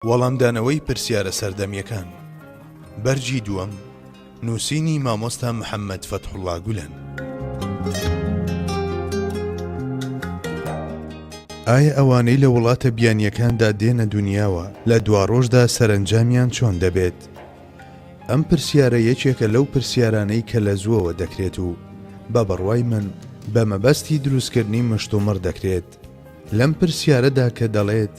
وەڵامدانەوەی پرسیارە سەردەمیەکان بەرگی دووەم نووسینی مامۆستا محەممەد فەتحوڵا گولەن. ئایا ئەوانەی لە وڵاتە بیانییەکاندا دێنە دنیاوە لە دواڕۆژدا سەرنجامیان چۆن دەبێت؟ ئەم پرسیارە یەکێکە لەو پرسیارانەی کە لە زووەوە دەکرێت و بە بڕوای من بە مەبەستی دروستکردنی مشتومڕ دەکرێت لەم پرسیارەدا کە دەڵێت،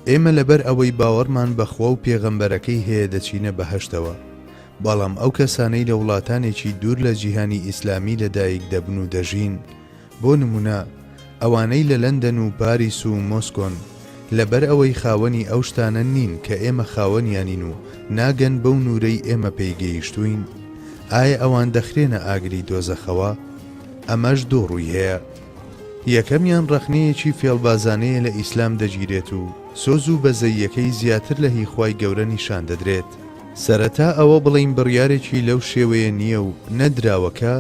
ئێمە لەبەر ئەوەی باوەڕمان بە خوا و پێغەمبەرەکەی هەیە دەچینە بەهەشتەوە، بەڵام ئەو کەسانەی لە وڵاتانێکی دوور لە جیهانی ئیسلامی لەدایک دەبن و دەژین، بۆ نموونە ئەوانەی لە لەندەن و پاریس و مۆسکۆن، لەبەر ئەوەی خاوەنی ئەو شتانە نین کە ئێمە خاوەنیانین و ناگەن بەو نوورەی ئێمە پێی گەیشتووین، ئایا ئەوان دەخرێنە ئاگری دۆزەخەوە؟ ئەمەش دوو ڕووی هەیە. یەکەمیان ڕەخنەیەکی فێڵبازانەیە لە ئیسلام دەگیرێت و سۆز و بەزەییەکەی زیاتر لە هی خوای گەورە نیشان دەدرێت. سەرەتا ئەوە بڵێین بڕیارێکی لەو شێوەیە نییە و نەدراوە کە،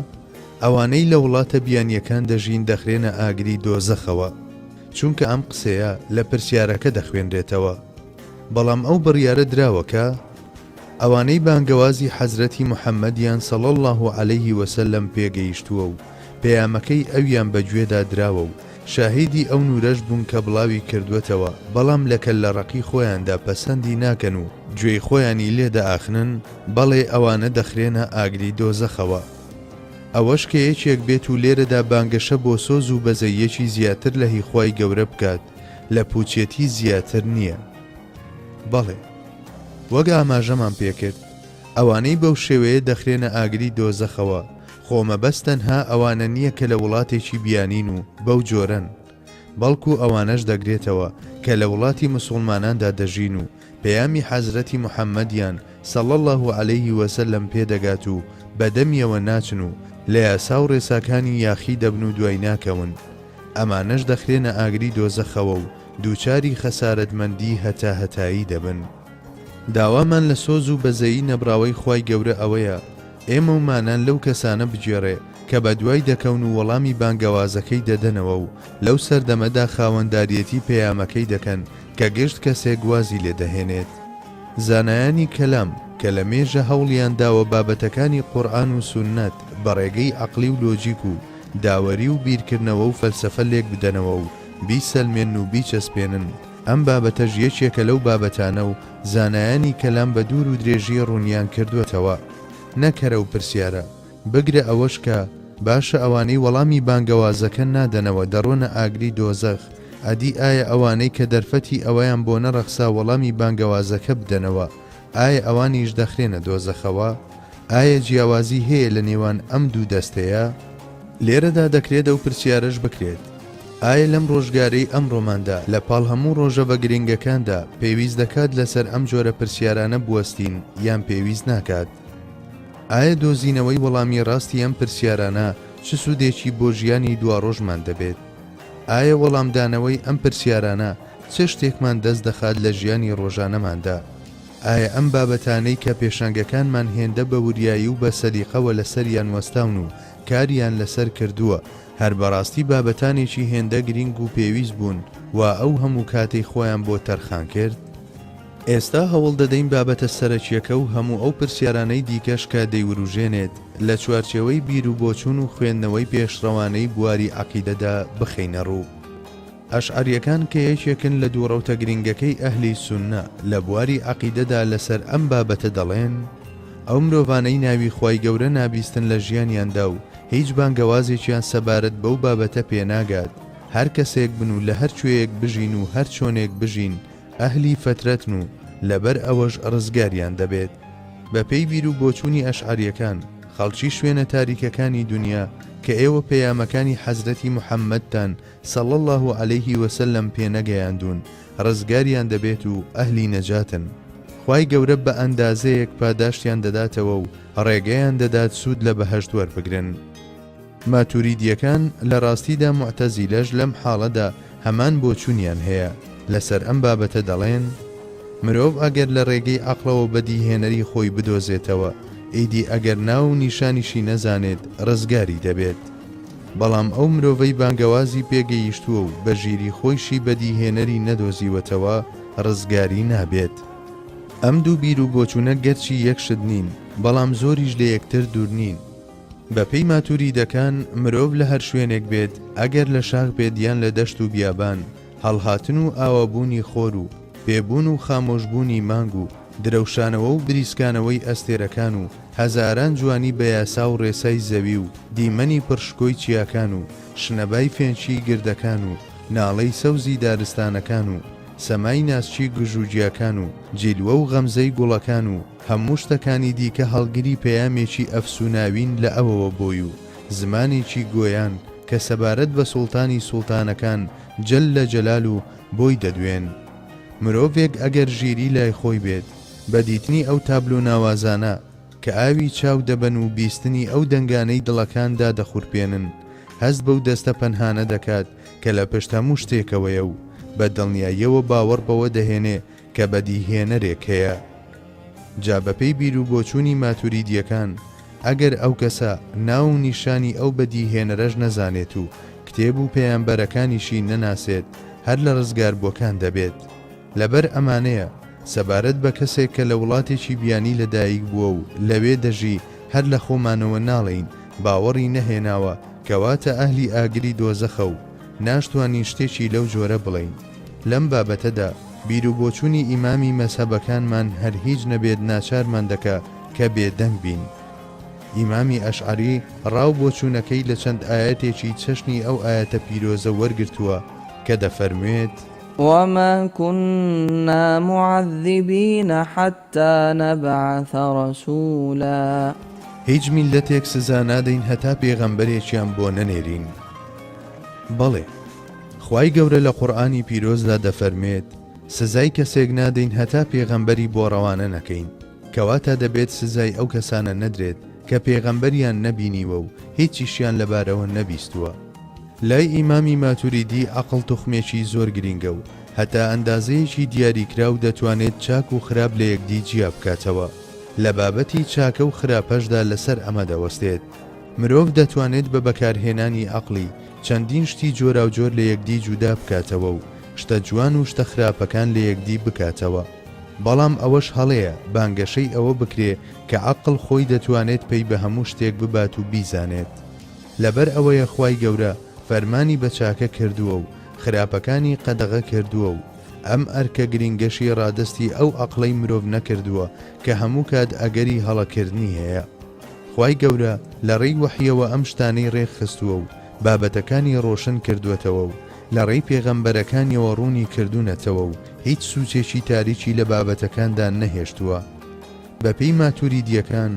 ئەوانەی لە وڵاتە بیانییەکان دەژین دەخرێنە ئاگری دۆزەخەوە، چونکە ئەم قسەیە لە پرسیارەکە دەخوێنرێتەوە، بەڵام ئەو بڕیارە دراوە کە، ئەوانەی بانگەوازی حەزرەتی محەمەدیان صلی اللە علیە وسلم پێ گەیشتووە و پەیامەکەی ئەویان بە گوێدا دراوە و شاهیدی ئەو نوورەش بوون کە بڵاوی کردووەتەوە بەڵام لە کەللە ڕەقی خۆیاندا پەسەندی ناکەن و گوێی خۆیانی لێ دەئاخنن، بەڵێ ئەوانە دەخرێنە ئاگری دۆزەخەوە. ئەوەش کە یەکێک بێت و لێرەدا بانگەشە بۆ سۆز و بەزەییەکی زیاتر لە هی خوای گەورە بکات لە پووچێتی زیاتر نییە. بەڵێ. وەک ئاماژەمان پێکرد ئەوانەی بەو شێوەیە دەخرێنە ئاگری دۆزەخەوە خۆ مەبەست تەنها ئەوانە نییە کە لە وڵاتێکی بیانین و بەو جۆرەن بەڵکو ئەوانەش دەگرێتەوە کە لە وڵاتی مسوڵماناندا دەژین و پەیامی حەزرەتی محەممەدیان صلی اللە علیه وسلم پێ دەگات و بە دەمیەوە ناچن و لە یاسا و ڕێساکانی یاخی دەبن و دوای ناکەون ئەمانەش دەخرێنە ئاگری دۆزەخەوە و دووچاری خەسارەتمەندی هەتاهەتایی دەبن. داوامان لە سۆز و بەزەیی نەبڕاوەی خوای گەورە ئەوەیە ئێمە و مانان لەو کەسانە بگێڕێ کە بەدوای دەکەون و وەڵامی بانگەوازەکەی دەدەنەوە و لەو سەردەمەدا خاوەنداریەتی پەیامەکەی دەکەن کە گشت کەسێک وازی لێ دەهێنێت. زانایانی کەلام کە لە مێژە هەوڵیان داوە بابەتەکانی قورئان و سوننەت بە ڕێگەی عەقڵی و لۆجیک و داوەری و بیرکردنەوە و فەلسەفە لێک بدەنەوە و بیسەلمێنن و بیچەسپێنن، ئەم بابەتەش یەکێکە لەو بابەتانە و زانایانی کەلام بە دوور و درێژی ڕوونیان کردووەتەوە، نە کەرە و پرسیارە، بگرە ئەوەش کە، باشە ئەوانەی وەڵامی بانگەوازەکە نادەنەوە دەڕۆنە ئاگری دۆزەخ، ئەدی ئایا ئەوانەی کە دەرفەتی ئەوەیان بۆ نەڕەخسا وەڵامی بانگەوازەکە بدەنەوە، ئایا ئەوانیش دەخرێنە دۆزەخەوە؟ ئایا جیاوازی هەیە لە نێوان ئەم دوو دەستەیە؟ لێرەدا دەکرێت ئەو پرسیارەش بکرێت، ئایا لەم ڕۆژگارەی ئەمڕۆماندا لە پاڵ هەموو ڕۆژەڤە گرنگەکاندا، پێویست دەکات لەسەر ئەم جۆرە پرسیارانە بوەستین یان پێویست ناکات؟ ئایا دۆزینەوەی وەڵامی ڕاستی ئەم پرسیارانە چ سوودێکی بۆ ژیانی دواڕۆژمان دەبێت؟ ئایا وەڵامدانەوەی ئەم پرسیارانە چ شتێکمان دەست دەخات لە ژیانی ڕۆژانەماندا؟ ئایا ئەم بابەتانەی کە پێشەنگەکانمان هێندە بە وریایی و بە سەلیقەوە لەسەریان وەستاون و کاریان لەسەر کردووە، هەر بەڕاستی بابەتانێکی هێندە گرینگ و پێویست بوون وا ئەو هەموو کاتەی خۆیان بۆ تەرخان کرد؟ ئێستا هەوڵ دەدەین بابەتە سەرەکییەکە و هەموو ئەو پرسیارانەی دیکەش کە دەیوروژێنێت، لە چوارچێوەی بیروبۆچوون و خوێندنەوەی پێشڕەوانەی بواری عەقیدەدا بخەینەڕوو. ئەشعەرییەکان کە یەکێکن لە دوو ڕەوتە گرینگەکەی ئەهلی سوننە لە بواری عەقیدەدا لەسەر ئەم بابەتە دەڵێن، ئەو مرۆڤانەی ناوی خوای گەورە نابیستن لە ژیانیاندا و هیچ بانگەوازێکیان سەبارەت بەو بابەتە پێناگات، هەر کەسێک بن و لە هەر کوێیەک بژین و هەر چۆنێک بژین، ئەهلی فەترەتن و لەبەر ئەوەش ڕزگاریان دەبێت. بە پێی بیر و بۆچوونی ئەشعەریەکان، خەڵکی شوێنە تاریکەکانی دونیا کە ئێوە پەیامەکانی حەزرەتی محەممەدتان صلی اللە علیه و سلم پێ نەگەیاندوون ڕزگاریان دەبێت و ئەهلی نەجاتن. خوای گەورە بە ئەندازەیەک پاداشتیان دەداتەوە و ڕێگەیان دەدات سوود لە بەهەشت وەربگرن. ماتوریدیەکان لە ڕاستیدا موعتەزیلەش لەم حاڵەدا هەمان بۆچونیان هەیە لەسەر ئەم بابەتە دەڵێن، مرۆڤ ئەگەر لە ڕێگەی عەقڵەوە بەدیهێنەری خۆی بدۆزێتەوە ئیدی ئەگەر ناو و نیشانیشی نەزانێت ڕزگاری دەبێت بەڵام ئەو مرۆڤەی بانگەوازی پێگەیشتووە و بە ژیری خۆیشی بەدیهێنەری نەدۆزیوەتەوە ڕزگاری نابێت. ئەم دوو بیرو بۆچونە گەرچی یەک شت نین بەڵام زۆریش لەیەکتر دورنین بە پێی ماتوریدەکان مرۆڤ لە هەر شوێنێک بێت ئەگەر لە شاخ بێت یان لە دەشت و بیابان هەڵهاتن و ئاوابوونی خۆر و پێ بوون و خامۆش بوونی مانگ و درەوشانەوە و بریسکانەوەی ئەستێرەکان و هەزاران جوانی بە یاسا و ڕێسای زەوی و دیمەنی پڕ شکۆی چیاکان و شنەبای فێنکیی گردەکان و ناڵەی سەوزی دارستانەکان و سەمای ناسکی گژوگیاکان و جیلوە و غەمزەی گوڵەکان و هەموو شتەکانی دیکە هەڵگری پەیامێکی ئەفسووناوین لە ئەوەوە بۆی و زمانێکی گۆیان کە سەبارەت بە سوڵتانی سوڵتانەکان جەللە جەلال و بۆی دەدوێن. مرۆڤێک ئەگەر ژیری لای خۆی بێت، بە دیتنی ئەو تابلۆ ناوازانە کە ئاوی چاو دەبەن و بیستنی ئەو دەنگانەی دڵەکان دادەخورپێنن، هەست بەو دەستە پەنهانە دەکات کە لە پشت هەموو شتێکەوەیە و بە دڵنیاییەوە باوەڕ بەوە دەهێنێ کە بەدیهێنەرێک هەیە. جا بەپێی بیروبۆچوونی ماتوریدییەکان، ئەگەر ئەو کەسە ناو و نیشانی ئەو بەدیهێنەرەش نەزانێت و کتێب و پەیامبەرەکانیشی نەناسێت هەر لە ڕزگاربووەکان دەبێت. لەبەر ئەمانەیە سەبارەت بە کەسێک کە لە وڵاتێکی بیانی لەدایک بووە و لەوێ دەژی هەر لە خۆمانەوە ناڵێین باوەڕی نەهێناوە کەواتە ئەهلی ئاگری دۆزەخە و ناشتوانین شتێکی لەو جۆرە بڵێین. لەم بابەتەدا بیروبۆچوونی ئیمامی مەزهەبەکانمان هەر هیچ نەبێت ناچارمان دەکا کە بێدەنگ بین. ئیمامی ئەشعەری ڕاو بۆچوونەکەی لە چەند ئایەتێکی چەشنی ئەو ئایەتە پیرۆزە وەرگرتووە کە دەفەرموێت. وما کنا معذبین حتی حتى نبعث رسولا. هیچ میللەتێک سزا نادەین هەتا پێغەمبەرێکیان بۆ نەنێرین. بەڵێ، خوای گەورە لە قورئانی پیرۆزدا دەفەرمێت، سزای کەسێک نادەین هەتا پێغەمبەری بۆ ڕەوانە نەکەین، کەواتە دەبێت سزای ئەو کەسانە نەدرێت کە پێغەمبەریان نەبینیوە و هیچیشیان لەبارەوە نەبیستووە. لای ئیمامی ماتوریدی عەقڵ توخمێکی زۆر گرینگە و هەتا ئەندازەیەکی دیاریکراو دەتوانێت چاک و خراپ لە یەکدی جیا بکاتەوە، لە بابەتی چاکە و خراپەشدا لەسەر ئەمە دەوەستێت. مرۆڤ دەتوانێت بە بەکارهێنانی عەقڵی، چەندین شتی جۆراوجۆر لە یەکدی جودا بکاتەوە و شتە جوان و شتە خراپەکان لە یەکدی بکاتەوە. بەڵام ئەوەش هەڵەیە بانگەشەی ئەوە بکرێ کە عەقڵ خۆی دەتوانێت پەی بە هەموو شتێک ببات و بیزانێت. لەبەر ئەوەیە خوای گەورە فەرمانی بە چاکە کردووە و خراپەکانی قەدەغە کردووە و ئەم ئەرکە گرینگەشی ڕادەستی ئەو عەقڵەی مرۆڤ نەکردووە کە هەموو کات ئەگەری هەڵەکردنی هەیە. خوای گەورە لە ڕێی وەحیەوە ئەم شتانەی ڕێکخستووە و بابەتەکانی ڕۆشن کردووەتەوە و لە ڕێی پێغەمبەرەکانیەوە ڕوونی کردوونەتەوە و هیچ سووچێکی تاریکی لە بابەتەکاندا نەهێشتووە. بەپێی ماتوریدییەکان،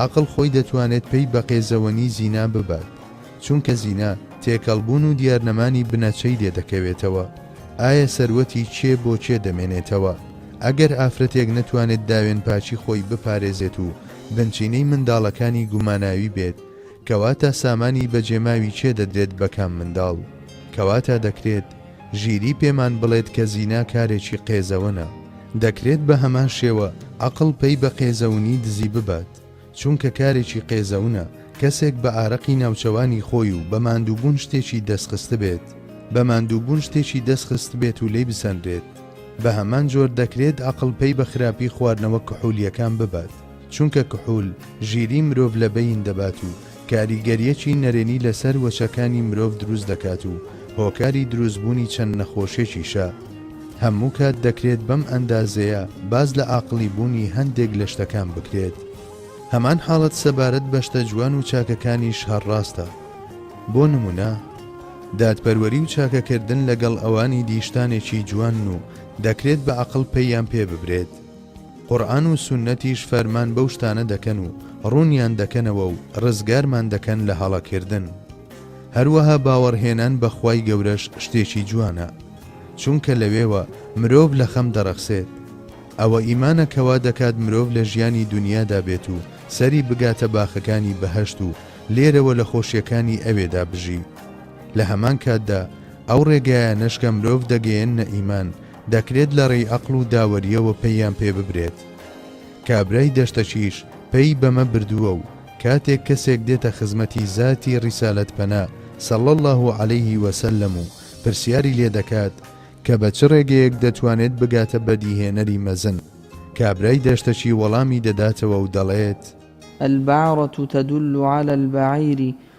عەقڵ خۆی دەتوانێت پەی بە قێزەوەنی زینا ببات. چونکە زینا تێکەڵ بوون و دیارنەمانی بنەچەی لێ دەکەوێتەوە، ئایا سەروەتی کێ بۆ کێ دەمێنێتەوە؟ ئەگەر ئافرەتێک نەتوانێت داوێنپاکی خۆی بپارێزێت و بنچینەی منداڵەکانی گوماناوی بێت، کەواتە سامانی بەجێماوی کێ دەدرێت بە کام منداڵ؟ کەواتە دەکرێت ژیری پێمان بڵێت کە زینا کارێکی قێزەونە. دەکرێت بە هەمان شێوە عەقڵ پەی بە قێزەونی دزی ببات، چونکە کارێکی قێزەونە کەسێک بە ئارەقی ناوچەوانی خۆی و بە ماندووبوون شتێکی دەستخستبێت، بە ماندووبوون شتێکی دەستخستبێت و لێی بسەنرێت. بە هەمان جۆر دەکرێت ئەقڵ پەی بە خراپی خواردنەوە کحولییەکان ببات، چونکە کحول ژیریی مرۆڤ لە بەین دەبات و کاریگەرییەکی نەرێنی لەسەر وەچەکانی مرۆڤ دروست دەکات و هۆکاری دروستبوونی چەند نەخۆشێکیشە. هەموو کات دەکرێت بەم ئەندازەیە باس لە ئاقڵی بوونی هەندێک لە شتەکان بکرێت. هەمان حاڵەت سەبارەت بە شتە جوان و چاکەکانیش هەر ڕاستە. بۆ نموونە، دادپەروەری و چاکەکردن لەگەڵ ئەوانی دی شتانێکی جوانن و دەکرێت بە ئەقڵ پەییان پێ ببرێت. قورئان و سوننەتیش فەرمان بەو شتانە دەکەن و ڕوونیان دەکەنەوە و ڕزگارمان دەکەن لە هەڵەکردن. هەروەها باوەڕهێنان بە خوای گەورەش شتێکی جوانە. چونکە لەوێوە مرۆڤ لە خەم دەڕەخسێت. ئەوە ئیمانە کە وا دەکات مرۆڤ لە ژیانی دونیادا بێت و سەری بگاتە باخەکانی بەهەشت و لێرەوە لە خۆشیەکانی ئەوێدا بژی. لە هەمان کاتدا ئەو ڕێگایانەش کە مرۆڤ دەگەیەننە ئیمان، دەکرێت لە ڕێی ئەقڵ و داوەرییەوە پەییان پێ ببرێت. کابرای دەشتەکیش پەیی بەمە بردووە و کاتێک کەسێک دێتە خزمەتی زاتی ڕیسالەت پەنا صلی اللە علیه و سلم و پرسیاری لێ دەکات کە بە چ ڕێگەیەک دەتوانێت بگاتە بەدیهێنەری مەزن، کابرای دەشتەکی وەڵامی دەداتەوە و دەڵێت. البعرة تدل علی البعیر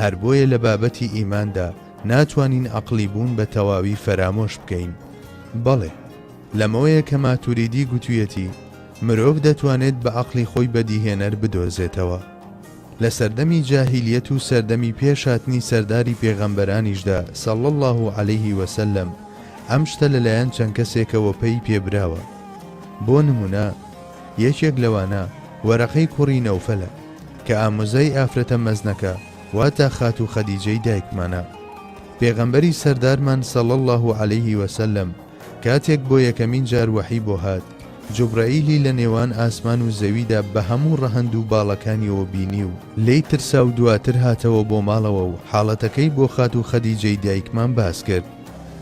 هەر بۆیە لە بابەتی ئیماندا ناتوانین عەقڵی بوون بە تەواوی فەرامۆش بکەین. بەڵێ، لەمەوەیە کە ماتوریدی گوتوویەتی، مرۆڤ دەتوانێت بە عەقڵی خۆی بەدیهێنەر بدۆزێتەوە. لە سەردەمی جاهیلیەت و سەردەمی پێش هاتنی سەرداری پێغەمبەرانیشدا صلی اللە علیه و سلم ئەم شتە لەلایەن چەند کەسێکەوە پەی پێبراوە. بۆ نموونە، یەکێک لەوانە وەرەقەی کوڕی نەوفەلە کە ئامۆزای ئافرەتە مەزنەکە واتا خاتوو خەدیجەی دایکمانە. پێغەمبەری سەردارمان صلی اللە علیە وسلم کاتێک بۆ یەکەمین جار وەحی بۆ هات جوبرەئیلی لە نێوان ئاسمان و زەویدا بە هەموو ڕەهەند و باڵەکانیەوە بینی و لێی ترسا و دواتر هاتەوە بۆ ماڵەوە و حاڵەتەکەی بۆ خاتوو خەدیجەی دایکمان باس کرد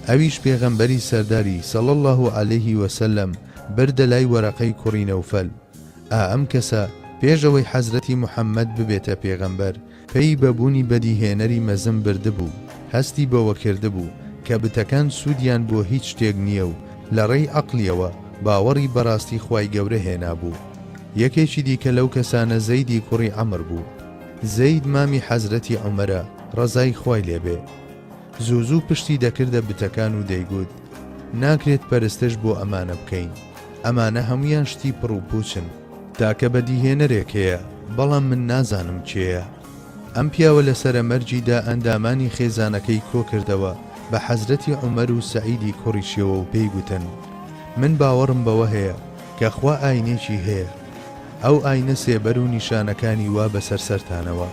ئەویش پێغەمبەری سەرداری صلی اللە علیە وسلم بردە لای وەرەقەی کوڕی نەوفەل، ئا ئەم کەسە پێش ئەوەی حەزرەتی محەمەد ببێتە پێغەمبەر، پێی بە بوونی بەدیهێنەری مەزن بردبوو، هەستی بەوە کردبوو کە بتەکان سوودیان بۆ هیچ شتێک نییە و لە ڕێی عەقڵیەوە باوەڕی بە ڕاستی خوای گەورە هێنابوو. یەکێکی دیکە لەو کەسانە زەیدی کوڕی عەمر بوو. زەید مامی حەزرەتی عومەرە ڕەزای خوای لێ بێ. زوو زوو پشتی دەکردە بتەکان و دەیگوت، ناکرێت پەرستش بۆ ئەمانە بکەین ئەمانە هەموویان شتی پڕ و پوچن. تاکە بەدیهێنەرێک هەیە بەڵام من نازانم کێیە ئەم پیاوە لەسەرە مەرگیدا ئەندامانی خێزانەکەی کۆکردەوە بە حەزرەتی عومەر و سەعیدی کوڕیشیەوە و پێی گوتن من باوەڕم بەوە هەیە کە خوا ئاینێکی هەیە ئەو ئاینە سێبەر و نیشانەکانی وا بەسەر سەرتانەوە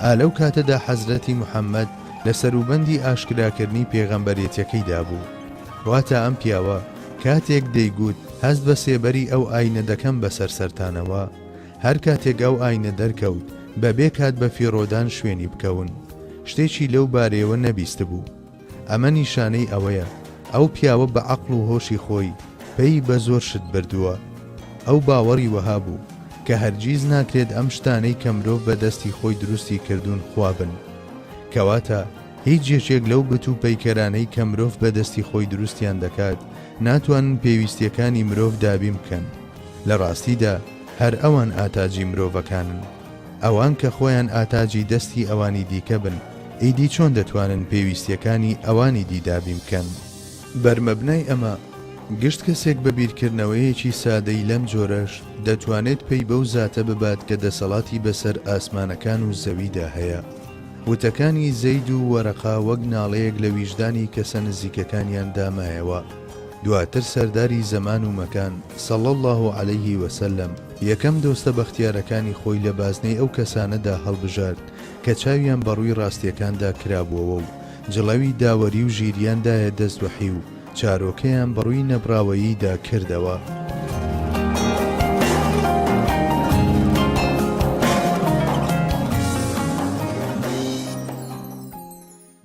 ئا لەو کاتەدا حەزرەتی محەمەد لە سەروبەندی ئاشکراکردنی پێغەمبەرێتیەکەیدا بوو، واتە ئەم پیاوە کاتێک دەیگووت هەست بە سێبەری ئەو ئاینە دەکەم بەسەر سەرتانەوە، هەر کاتێک ئەو ئاینە دەرکەوت بەبێ کات بەفیڕۆدان شوێنی بکەون، شتێکی لەو بارەیەوە نەبیستبوو. ئەمە نیشانەی ئەوەیە ئەو پیاوە بە عەقڵ و هۆشی خۆی پەی بە زۆر شت بردووە. ئەو باوەڕی وەها بوو کە هەرگیز ناکرێت ئەم شتانەی کە مرۆڤ بە دەستی خۆی دروستی کردوون خوا بن. کەواتە هیچ یەکێک لەو بت و پەیکەرانەی کە مرۆڤ بە دەستی خۆی دروستیان دەکات ناتوانن پێویستییەکانی مرۆڤ دابین بکەن. لە ڕاستیدا هەر ئەوان ئاتاجی مرۆڤەکانن. ئەوان کە خۆیان ئاتاجی دەستی ئەوانی دیکە بن، ئیدی چۆن دەتوانن پێویستییەکانی ئەوانی دی دابین بکەن؟ بەر مەبنای ئەمە، گشت کەسێک بە بیرکردنەوەیەکی سادەی لەم جۆرەش، دەتوانێت پەی بەو زاتە ببات کە دەسەڵاتی بەسەر ئاسمانەکان و زەویدا هەیە. وتەکانی زەید و وەرەقە وەک ناڵەیەک لە ویژدانی کەسە نزیکەکانیاندا مایەوە، دواتر سەرداری زەمان و مەکان، صلی اللە علیه وسلم، یەکەم دۆستە بەختیارەکانی خۆی لە بازنەی ئەو کەسانەدا هەڵبژارد کە چاویان بە ڕووی ڕاستیەکاندا کرابووەوە و جڵەوی داوەری و ژیریان دایە دەست وحی و چارۆکەیان بە ڕووی نەبڕاوەییدا کردەوە.